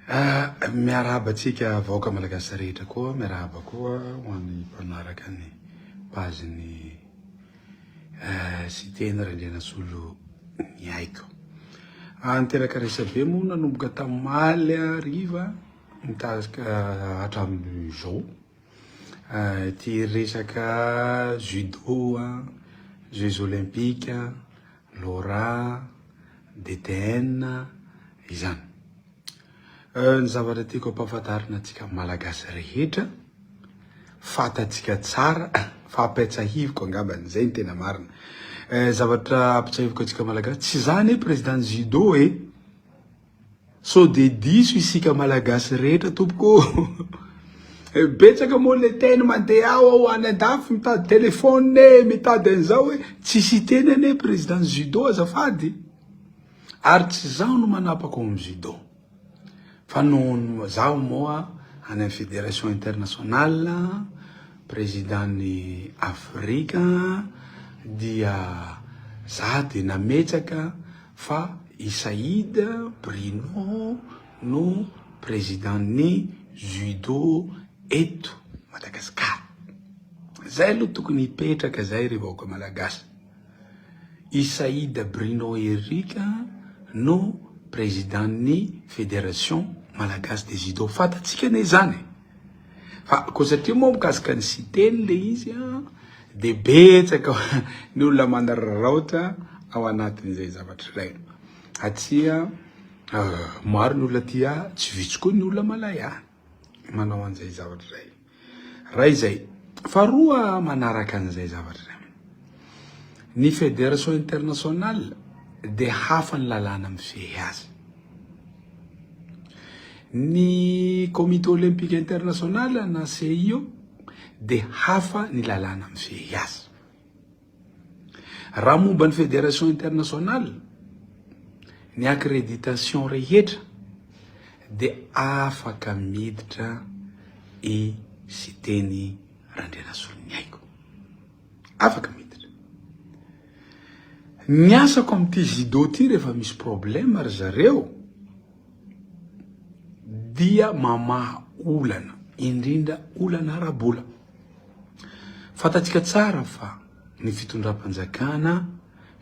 Ah, miarahaba antsika vahoaka malagasy rehetra koa, miarahaba koa ho an'ny mpanaraka ny page ny eh, Siteny Randrianasolo ny aiko. Ah, niteraka resabe moa nanomboka tamaly hariva mitarika hatramin'izao. Ah, ity resaka judo, ah, Jeux Olympiques, Laura, BTN, izany. Euh, ny zavatra tiako ampahafantarina antsika Malagasy rehetra, fantatsika tsara, fa ampiatsahiviko angambany, zay ny tena marina. Euh, zavatra ampitsahiviko antsika Malagasy, tsy za anie président judo e, Sao de diso isika malagasy rehetra tompoko ô! Betsaka moa le teny mandeha ao ao any andafy mitady telephone e, mitady an'izao e, tsy siteny anie président judo azafady, ary tsy zaho no manapaka ao amin'ny judo fa nohon'ny zaho moa any amin'ny fédération internationale président ny Afrika dia za de nametsaka, fa i Saïd Bruno no président ny judo eto Madagascar zay aloha tokony hipetraka zay ry vahoaka Malagasy i Saïd Bruno ery ka no président ny fédération Malagasy de judo fantatsika anie zany e. Fa koa satria moa mikasika ny Siteny ilay izy an, dia betsaka ny olona manararaotra ao anatin'izay zavatra izay. Aty maro ny olona aty, tsy vitsy koa ny olona malaya manao an'izay zavatra izay. Iray izay. Faharoa manaraka an'izay zavatra izay. Ny Fédération internationale dia hafa ny lalàna mifehy azy. Ny Comité Olympique International na CIO dia hafa ny lalàna mifehy azy. Raha momba ny Fédération internationale, ny accréditation rehetra dia afaka miditra i Siteny Randrianasoloniaiko. Afaka miditra. Ny asako amin'ity Zido ity rehefa misy problème ry zareo dia mamaha olana, indrindra olana ara-bola. Fantatsika tsara fa ny fitondram-panjakana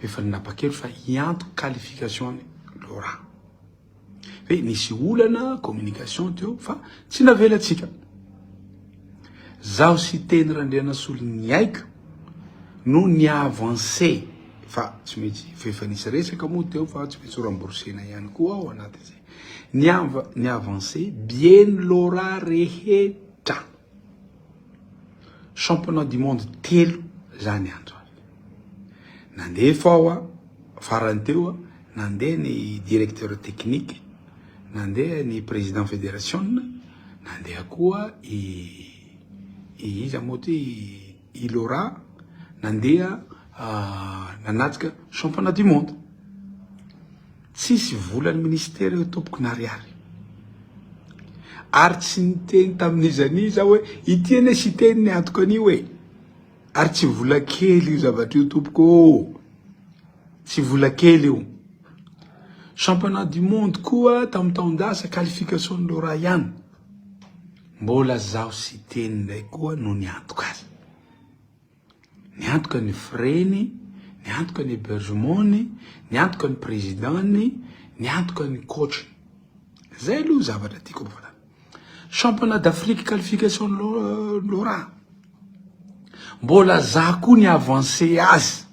efa nanapa-kevitra fa hianto qualification-n'i Laura. hoe nisy olana communication teo fa tsy navelantsika. Zaho sy Teny Randrianasolo niaiky no ni avancer fa tsy maintsy efa nisy resaka moa teo fa tsy maintsy ho rembourser-na ihany koa ao anatin'izay. Ni ni avancer bien lora rehetra. Championnat du monde telo zany andro zany. Nandeha fao a, farany teo a, nandeha ny directeur technique, nandeha ny président federasiona, nandeha koa i i iza moa ty i Laura nandeha nanatrika championnat du monde. Tsisy volan'ny ministera io tompoko na ariary. Ary tsy niteny tamin'iza n'iza hoe ity anie siteny ny antoko an'io e. Ary tsy vola kely io zavatra io tompoko oo, tsy vola kely io. Championnat du monde koa tamin'ny taon-dasa qualification an'ireo ray ihany. Mbola zaho Siteny indray koa no niantoka azy. Niantoka ny frais-ny, niantoka ny hébergement-ny, niantoka ny président-ny, niantoka ny coach-ny. Zay aloha zavatra tiako ampifarana. Championnat d'Afrique qualification Laura, mbola za koa ny avancé azy,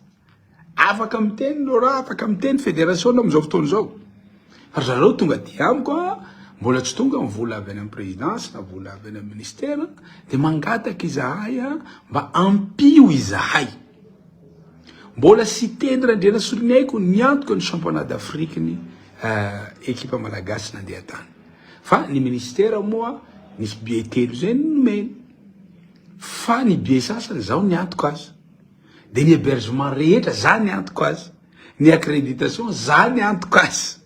afaka miteny Laura, afaka miteny fédération amin'izao fotoana izao, fa zareo tonga aty amiko an, mbola tsy tonga ny vola avy any amin'ny présidence na vola avy any amin'ny ministère, dia mangataka izahay an, mba ampio izahay, mbola Siteny Randrianasoloniaiko niantoka ny championnat d'Afrique ny ekipa malagasy nandeha tany. Fa ny ministera moa misy billets telo zay no nomeny. Fa ny billets sasany zao ny antoko azy. Dia ny hebergement rehetra za ny antoko azy. Ny accreditation za ny antoko azy.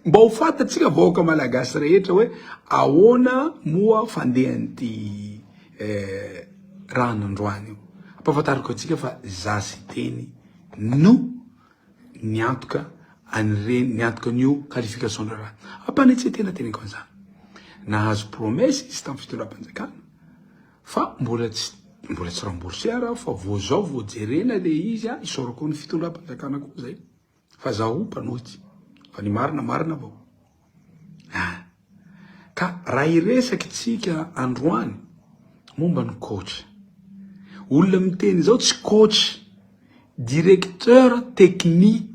Mba ho fantatsika vahoaka malagasy rehetra hoe ahoana moa fandehan'ity raha nandroany io. Ampahafantariko antsika fa za Siteny no ny antoka an'ireny, ny antokan'io qualification-draharaha. Ampanetsetena teneniko an'izany. Nahazo promesse izy tamin'ny fitondram-panjakana fa mbola tsy mbola tsy rembourser aho fa vao zao vao jerena le izy a, isaorako ny fitondram-panjakana koa zay fa zaho mpanohitra fa ny marina marina avao. Ah! Ka raha hiresaka itsika androany momba ny coach. Olona miteny izao tsy coach, directeur technique.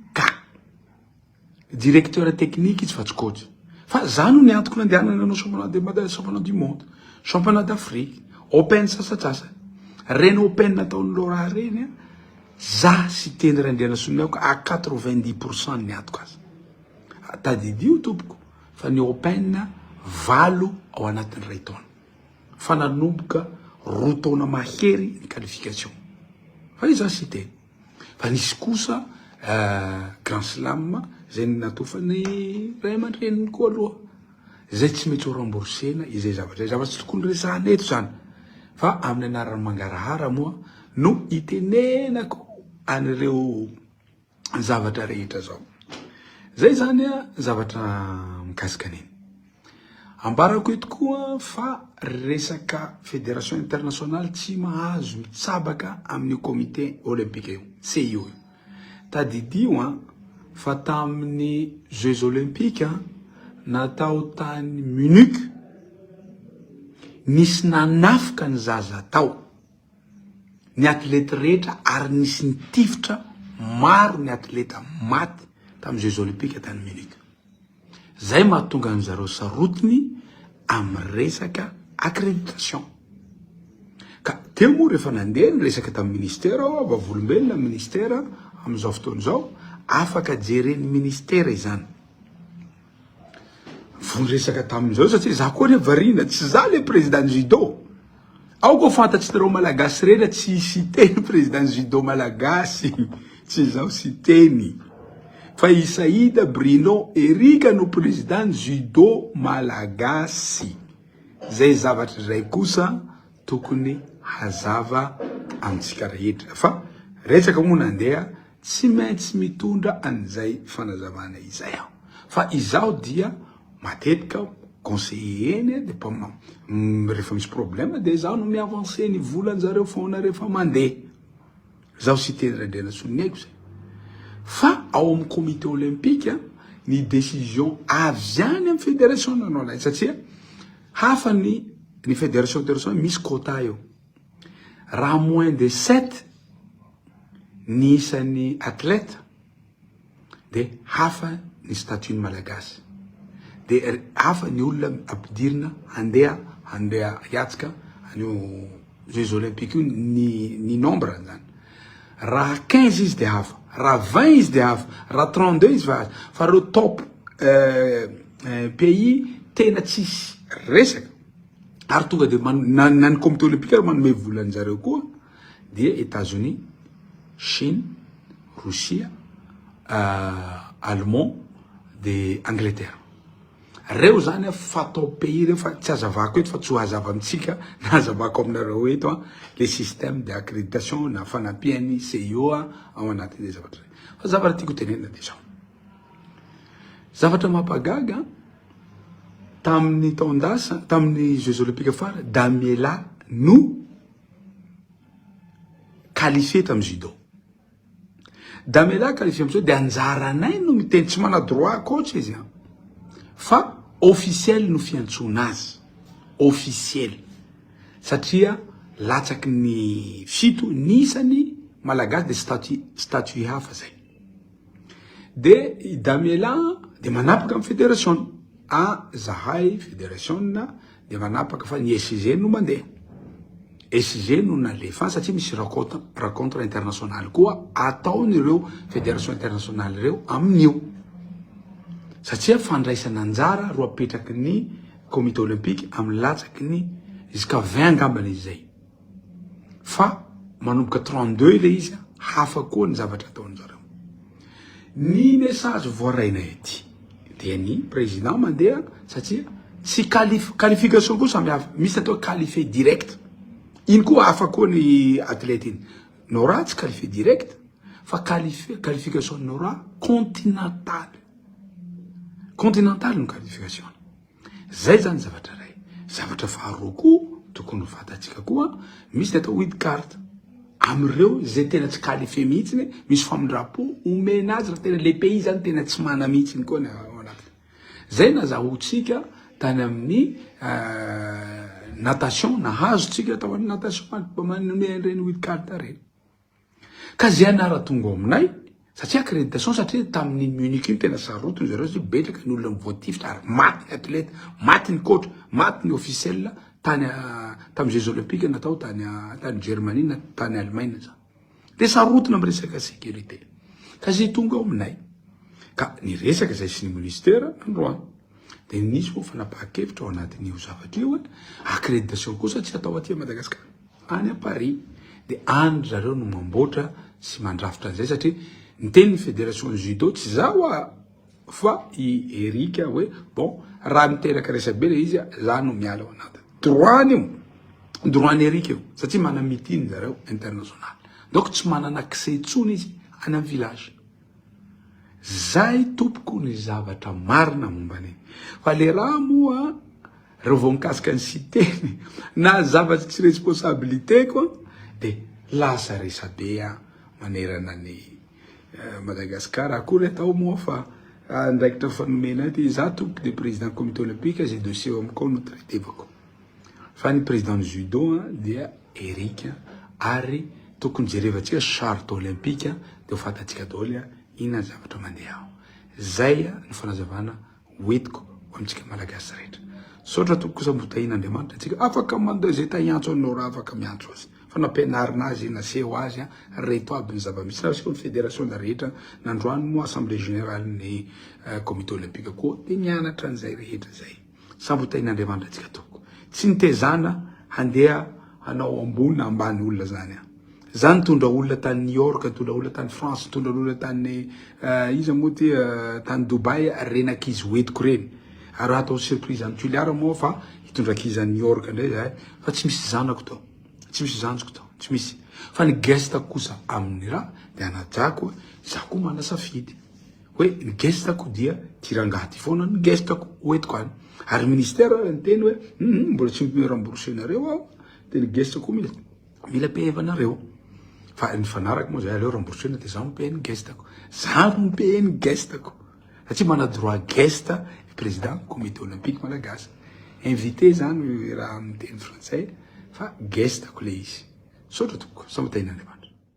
Directeur technique izy fa tsy coach. Fa za no ny antoko nandehanana nanao championnat de Mada, championnat du monde, championnat d'Afrique, open sasatsasa. Reny open nataon'i Laura reny, za sy teny Randrianasoloniaiko à 90% ny antoko aza. Tadidio tompoko fa ny open valo ao anatin'ny iray taona fa nanomboka roa taona mahery ny qualification fa iza cité fa nisy kosa grand slam zay natofan'ny ray aman-dreniny koa aloha zay tsy mety ho rembourser-na izay zavatra izay, zava-tsy tokony resahana eto zany fa amin'ny anaran'ny mangarahara moa no itenenako an'ireo zavatra rehetra zao. Zay zany a zavatra mikasika an'iny. Ambarako eto koa fa resaka fédération internationale tsy mahazo mitsabaka amin'ny comité olympique io, CIO. Tadidio a fa tamin'ny Jeux olympiques natao tany Munich nisy nanafika ny zaza tao. ny atlety rehetra ary nisy nitifitra maro ny atleta maty tamin'ny Jeux Olympiques tany Munich. Zay mahatonga an zareo sarotiny amin'ny resaka accréditation. Ka teo moa rehefa nandeha ny resaka tamin'ny ministera aho, vavolombelona ny ministera amin'izao fotoana izao, afaka jeren'ny ministera izany. Vao niresaka tamin zao satria za koa anie variana tsy za le président judo aoka ho fantatsnareo malagasy rehetra tsy i siteny président judo malagasy tsy izaho siteny fa i saida brino erika no président judo malagasy zay zavatra zay kosa tokony hazava amitsika rehetra fa resaka moa nandeha Tsy maintsy mitondra an'izay fanazavana izay aho fa izaho dia matetika aho conseiller eny dia mpa rehefa misy problème dia izaho no mi-avancer ny volan-jareo foana rehefa mandeha. Izaho Siteny Randrianasoa ny haiko izay. Fa ao amin'ny comité olympique ny décision avy any amin'ny fédération no alainy satria hafa ny ny fédération fédération misy quota eo. Raha moins de sept ny isan'ny athlète dia hafa ny statut ny Malagasy. Dia hafa ny olona ampidirina handeha handeha hiatrika an'io Jeux olympiques io ny ny nombre zany. Raha quinze izy dia hafa, raha vingt izy dia hafa, raha trente deux izy fa fa ireo top pays tena tsisy resaka. ary tonga dia na ny comité olympique ary manome vola anjareo koa dia Etats Unis, Chine, Rosia, euh, Allemand dia Angleterre. Reo zany a fatao pays reo fa tsy azavako eto fa tsy hazava amintsika na hazavako aminareo eto a le système de accréditation na fanampian'ny CIO a ao anatin'izay zavatra zay. Fa zavatra tiako tenenina de zao. Zavatra mampagaga Tamin'ny taon-dasa, tamin'ny Jeux Olympiques fara, Damiela no qualifié tamin'ny judo. Damiela qualifié amin'izao dia anjaranay no miteny tsy mana droit coach izy an. Fa officiel no fiantsoana azy. Officiel. Satria latsaky ny fito ny isany malagasy dia statut statut hafa zay. Dia i Damiela dia manapaka amin'ny federasiona. Ah, zahay federasiona dia manapaka fa ny SG no mandeha. SG no nalefa satria misy rencontre internationale koa ataon'ireo federation internationale ireo amin'io. Satria fandraisana anjara roa apetraky ny comité olympique amin'ny latsaky ny jusqu'à 20 angambany izay. fa manomboka 32 ilay izy hafa koa ny zavatra ataony zareo ny message voaraina ety dia ny président mandeha satria tsy qualif qualification koa samy hafa misy atao qualifié direct iny koa hafa koa ny athlète iny Nora tsy qualifié direct fa qualifié qualification Nora continentale continentale ny qualification Izay izany zavatra iray. Zavatra faharoa koa tokony ho fantatsika koa, misy ny atao weed card amin'ireo izay tena tsy qualifié mihitsy, misy famindram-po omena azy raha tena le pays zany tena tsy mana mihitsy ny koa ny ao anatiny. Izay nazahoantsika tany amin'ny euh, natation, nahazo tsika tao amin'ny natation, manome an'ireny weed card ireny. Ka zay anara tonga ao aminay satria accréditation satria tamin'iny Munich iny tena sarotiny zareo satria betsaka ny olona voatifitra ary maty ny athlète, maty ny coach, maty ny officiel tany ah, tamin'ny jeux olympiques natao tany ah, tany Germanie na tany Allemagne zany. Dia sarotiny amin'ny resaka sécurité. Ka zay tonga ao aminay. Ka niresaka zay sy ny ministère nandroany. Dia nisy moa fanapahan-kevitra ao anatin'io zavatra io hoe accréditation kosa tsy atao aty Madagasikara, any à Paris. Dia any ry zareo no mamboatra sy mandrafitra an'izay satria niteny ny fédération judo tsy za hoa fa i Eric hoe bon raha miteraka resabe le izy za no miala ao anaty droit-ny io, droit-ny Eric io satria manam-meeting zareo international. Donc tsy manana accès intsony izy any amin'ny village. Zay tompoko ny zavatra marina momba an'iny. Fa le raha moa reo vao mikasika ny siteny na zavatsy tsy responsabilité ko de lasa resabe manerana ny Madagascar akory atao moa fa andraikitra efa nomenay ty za tompoko de président comité olympique zay dossier ao amiko ao no traitevako. Fa ny président ny judo dia Eric ary tokony jerevantsika charte olympique dia ho fantatsika daholo inona ny zavatra mandeha ao. Zay ny fanazavana hoentiko ho amintsika malagasy rehetra. Misaotra tompoko kosa mbo tahin' Andriamanitra antsika afaka mandeha zay ta hiantso anao raha afaka miantso azy fa nampianarina azy naseho azy reto aby ny zava-misy na aseho ny fédération na rehetra na androany moa assemblée générale ny comité olympique koa dia mianatra an'izay rehetra zay. Sambotaina Andriamanitra antsika tompoko. Tsy nitezana handeha hanao ambony na ambany olona zany an. Za nitondra olona tany New York, nitondra olona tany France, nitondra olona tany iza moa ty tany Dubai reny ankizy ho entiko reny. Ary hatao surprise any Tuliara moa fa hitondra ankizy any New York ndray zahay fa tsy misy zanako tao, tsy misy zanjiko tao, tsy misy. Fa ny guest kosa aminy ra de anajako, za koa mana safidy. Hoe ny gestako dia ty rangahy ty foana ny gestako hoentiko any. Ary ministera ary niteny hoe hum mbola tsy omeo remboursé nareo aho dia ny gestako mila mila pehevanareo. Fa nifanaraka moa zay aleo remboursé-na dia zaho mi-paye ny gestako. Zaho no mi-paye ny gestako. Satria mana droit geste ny président comité olympique malagasy. Invité zany raha miteny frantsay fa gestako le izy. Misaotra tompoko, Sambatainin'Andriamanitra.